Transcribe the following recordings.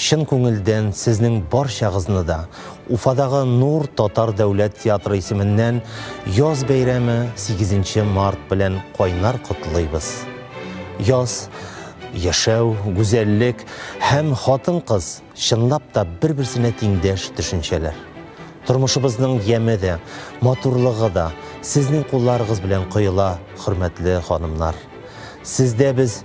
Чын күңелдән сезнең барчагызны да Уфадагы Нур татар дәүләт театры исеменнән яз бәйрәме 8 март белән кайнар котлыйбыз. Яз, яшәү, гүзәллек һәм хатын-кыз чынлап та бер-берсенә тиңдәш төшенчәләр. Тормышыбызның яме дә, матурлыгы да сезнең кулларыгыз белән коела, хөрмәтле ханымнар. Сездә без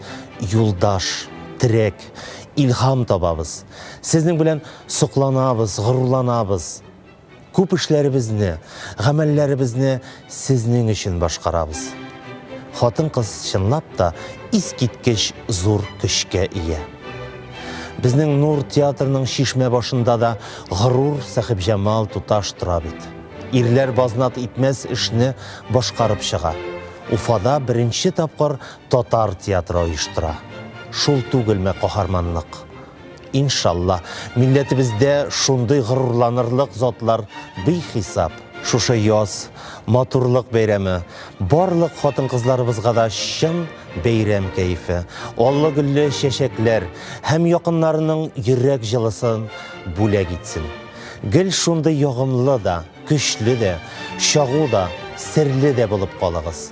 юлдаш, терәк, илһам табабыз. Сезнең белән сокланабыз, горурланабыз. Күп эшләребезне, гамәлләребезне сезнең өчен башкарабыз. Хатын-кыз чынлап та искиткеч зур көчкә ия. Безнең Нур театрының чишмә башында да горур Сәхибҗамал туташ тора бит. Ирләр базнат итмәс эшне башкарып чыга. Уфада беренче тапкыр Татар театры оештыра. Шул түгелме каһарманлык? Иншалла, милләтебездә шундый горурланырлык затлар бихисап. Шушы яз, матурлык бәйрәме, барлык хатын-кызларыбызга да чын бәйрәм кәефе, аллы-гөлле чәчәкләр һәм якыннарының йөрәк җылысын бүләк итсен. Гел шундый ягымлы да, көчле дә, чагу да, серле дә булып калыгыз.